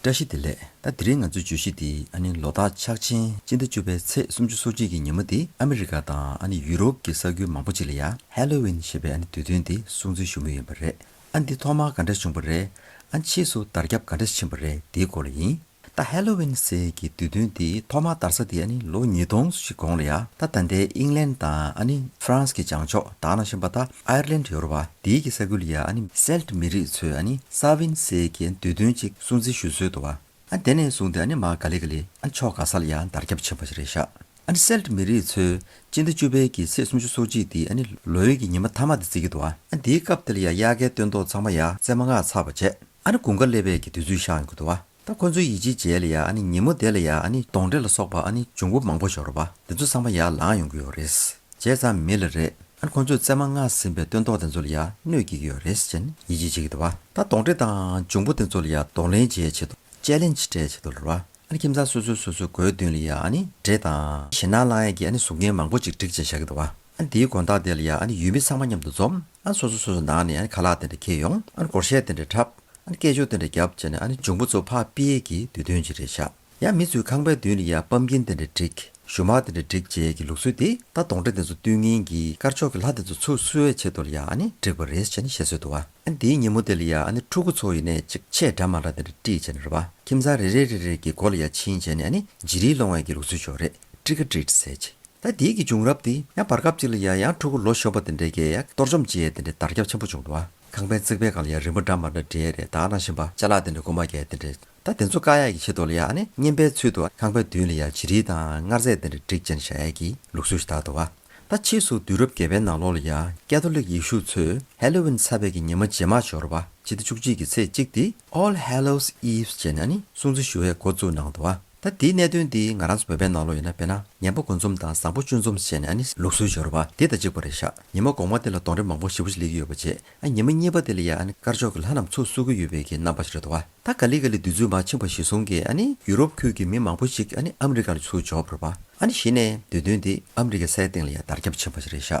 བཀྲ་ཤིས་བདེ་ལེགས་ད་དེ་རིང་ང་ཚོའི་བརྗོད་གཞི་འདི་ཨ་ནི་ལོ་རྟགས་ཕྱག་ཆེན་སྤྱི་ཟླ་བཅུ་པའི་ཚེས་སུམ་ཅུ་སོ་གཅིག་གི་ཉིན་མོ་འདི་ཨ་མི་རི་ཀ་དང་ཨ་ནི་ཡུ་རོབ་ཀྱི་ས་ཁུལ་མང་པོ་ཅིག་ལ་ཡ། Halloween། ཞེས་པའི་ཨ་ནི་དུས་སྟོན་འདི་སྲུང་བརྩི་ཞུ་མུས་ཡིན་པ་རེད། ཨ་འདི་ཐོག་མར་ག་འདྲ་བྱུང་བ་རེད། ཨ་ཕྱིས་སུ་དར་ཁྱབ་ག་འདྲ་ཕྱིན་པ་རེད་འདིའི་སྐོར་ལ་ཡིན། ད Halloween ཟེར་གྱི་དུས་སྟོན་འདི་ཐོག་མར་དར་ས་དེ་ཨ་ནི་ལོ་ཉིས་སྟོང་སོ་གཅིག་གོང་ལ་ཡ། ད་ད་ལྟའི་ཨིང་ལན་དང་ཨ་ནི་ཧྥ་རན་སི་གི་བྱང་ཕྱོགས་དག་ན་བཞིན་པ་ད Ireland ཡོ་རོ་པ་འདིའི་གྱི་ས་ཁུལ་ཡ་ཨ་ནི Celt མི་རིགས་ཚོས་ཨ་ནི Samhain སའི་གྱི་འདོད་དོན་ཅིག་སྲུང་བརྩི་ཞུ་སྲོལ་དུ་ཨ་དེ་ནས་བཟུང་སྟེ་ཨ་ནི་མ་ག་ལི་ག་ལི་ཨ་ནི་ཕྱོགས་ག་ས་ལ་ཡང་དར་ཁྱབ་ཆེན་པོ་ཞིག་རེད་ཤག་ཨ་ནི Celt མི་རིགས་ཚོས་སྤྱི་ཟླ་བཅུ་པའི་གྱི་ཚེས་སུམ་ཅུ་སོ་གཅིག་འདི་ཨ་ནི་ལོ་ཡོས་གྱི་ཉི་མ་མཐའ་མ་འདི་བརྩི་གི་འདུག་ཨ་འདིའི་སྐབས་དེ་ལ་ཡ་དབྱར་ཁའི་སྟོན་ཐོག་ཚང་མ་ཡ་རྩེ་མ་སྔགས་ཚར་བ་བྱས་ཨ་ནི་དགུན་ཁ་སླེབས་པའི་གྱི་དུས་ཚོད་ཤག་ཡོང་གི་འདུག་ཨ། ད་ཁོ་ཚོའི་ཡིད་ཆེས་རྗེས་ལ་ཡ་ཨ་ནི་ཉིན་མོ་དེ་ལ་ཡ་ཨ་ནི་སྦྱོང་འབྲས་ལ་སོགས་པ་ཨ་ནི་འབྱུང་པོ་མང་པོ་ཤོར་བ་དེ་ཚོ་བསམ་པ་ཡར་ལངས་ཡོང་གི་ཡོད་རེད། བྱས་ཙང་མི་ལ་རེད་ཨ་ནི་ཁོ་ཚོས་བཙས་མ་མངགས་ཟིན་པའི་སྟོན་ཐོག་དེ་ཚོ་ལ་ཡ་གནོད་ཀྱི་ཡོད་རེད་ཅེས་ནི་ཡིད་ཆེས་བྱེད་ཀྱི་འདུག་བ་ད་སྡོང་འབྲས་དང་འབྱུང་པོ་དེ་ཚོ་ལ་ཡ་སྡོང་ལེན་བྱས་བྱེད་དུ་དཔྱད་ལེན་བྱས་བྱེད་དུ་ལར་བ་ཨ་ནི་ཁྱིམ་ཚང་སོ་སོའི་སོ་སོའི་སྒོའི་མདུན་ལ་ཡ་ཨ་ནི་འབྲས་དང། ཞེད་སྣང་བསླང་ཡས་ཀྱི་ཨ་ནི་གཟུགས་བརྙན་མང་པོ་ཅིག་བསྒྲིགས་བྱས་བཞག་གི་འདུག་བ་ཨ་ནི་དེའི་དགོན་བདག་དེ་ལ་ཡ་ཨ་ནི་ཡུལ་མི་ཚང་མ་མཉམ་དུ་འཛོམས་ཨ་ནི་སོ་སོ་སོ་སོའི་ནང་ནས་ཨ་ནི་ཁ་ལག་དེ་འདྲ་འཁྱེར་ཡོང་ཨ་ནི་སྒོར་གཞས་དེ་འདྲ་འཁྲབ། ཨ་ནི་སྐད་ཅོར་དེ་འདྲ་བརྒྱབ་བྱས་ནས་ཨ་ནི་འབྱུང་པོ་ཚོ་ཕ་པི་ཡེ་གི་དུས་སྟོན་གྱི་རེད་བཞག་ཡ་མི་ཚོའི་ཁང་པའི་མདུན་ལ་ཡ་པམ་ཀིན་དེ་འདྲ་བསྒྲིག་ཞུ་མར་དེ་འདྲ་བསྒྲིག་བྱས་གི་ལུགས་སྲོལ་དེ་ད་དོང་དྲ་དེ་ཚོ་བསྟུན་ངན་གི་དཀར་ཕྱོགས་གི་ལྷ་དེ་ཚོ་ཚུར་བསུ་བའི་ཆེད་དུ་ལ་ཡ་ཨ་ནི་བསྒྲིག་པ་རེད་བྱས་ནས་བཤད་སྲོལ་འདུག་ཨ་ནི་དེའི་ཉིན་མོ་དེ་ལ་ཡ་ཨ་ནི་ཕྲུ་གུ་ཚོ་ཡེ་ནས་ཅིག་ཆས་འདྲ་མ་འདྲ་དེ་འདྲ་བསྒྲིག་བྱས་ནས་རེད་བ་ཁྱིམ་ཚང་རེ་རེ་རེ་རེ་གི་སྒོ་ལ་ཡ་ཕྱིན་བྱས་ནས་ཨ་ནི་བྱི་རིལ་སློང་བའི་གི་ལུགས་སྲོལ་ཅོག་རེ་བསྒྲིག་ག་བསྒྲིག་ཟེར་གྱི་ད་དེའི་གི་བྱུང་རབས་དེ་ཡང་བར་སྐབས་ཅིག་ལ་ཡ་ཡང་ཕྲུ་གུ་ལོ་གཞོན་པ་དེ་འདྲ་གི་ཡ་གཏོར་བཅོམ་བྱས་ཡས་དེ་འདྲ་དར་ཁྱབ་ཆེན་པོ་བྱུང་འདུག་ཨ། ཁང་པའི་རྩིག་པའི་སྒང་ལ་ཡང་རིན་པོ་འདྲ་མར་འདྲ་འདྲེས་རེ་དྭགས་སྣ་བཞིན་པ་ལྕགས་ལ་དེ་འདྲ་དགུ་མ་བརྒྱད་དེ་འདྲེ། ད་དེ་ཚོ་བཀག་ཡ་གི་ཆེད་དུ་ལ་ཡང་ཨ་ནི་བསྙེན་པའི་ཚུལ་དུ་ཁང་པའི་མདུན་ལ་ཡང་བྱི་རིལ་དང་མངར་རྫས་དེ་འདྲ་བསྒྲིག་ཅན་བཞག་ཡ་གི་ལུགས་སྲོལ་ཞིག་དར་འདུག་བ། ད་ཕྱིས་སུ་དུས་རབས་བརྒྱད་པའི་ནང་ལོགས་ལ་ཡང་ཀེ་ཐོ་ལིག་ཡེ་ཤུ་ཚོས་ཧེ་ལོ་ཝིན་ས་བྷས་ཀྱི་ཉི་མ་རྗེས་མ་ཞོར་བ་ཕྱི་ཟླ་བཅུ་གཅིག་གི་ཚེས་གཅིག་སྟེ། All Hallows Eve ཅེས་ནས་ཨ་ནི་སྲུང་བརྩི་ཞུ་བའི་འགོ་བཙུགས་གནང་འདུག་བ། ད་འདིའི་གནད་དོན་འདི་ང་རང་ཚོ་བོད་པའི་ནང་ལོག་ཡོད་ན་དཔེར་ན་ངན་པ་འགོ་འཛོམས་དང་བཟང་པོ་བཅུ་འཛོམས་བྱས་ནས་ཨ་ནི་ལུགས་སྲོལ་སྦྱོར་བ་འདི་དང་གཅིག་པ་རེད་ཤག་ཉི་མ་དགོང་མ་འདི་ལ་གདོང་རེ་མང་པོ་ཞིབ་པོ་ཞིག་སླེབས་ཀྱི་ཡོད་པ་རྗེས་ཨ་ཉི་མ་གཉིས་པ་འདི་ལ་ཡང་ཨ་ནི་དཀར་ཕྱོགས་ཀྱི་ལྷ་རྣམས་ཚུགས་བསུ་གི་ཡོད་པའི་གི་རྣམ་པ་ཞིག་རེད་དོ་ཨ་ད་ག་ལི་ག་ལི་འདི་ཚུལ་མ་ཕྱིན་པ་ཞིག་གསུང་གི་ཨ་ནི་ཡུ་རོབ་ཁུལ་གྱི་མི་མང་པོ་ཞིག་ཨ་ནི་ཨ་མི་རི་ཀ་ལ་ཚུགས་འབྱོར་བར་པ་ཨ་ནི་གཞི་ནས་འདོད་དོན་འདི་ཨ་མི་རི་ཀའི་སའི་སྟེང་ལ་ཡང་དར་ཁྱབ་ཕྱིན་པ་ཞིག་རེད་ཤག།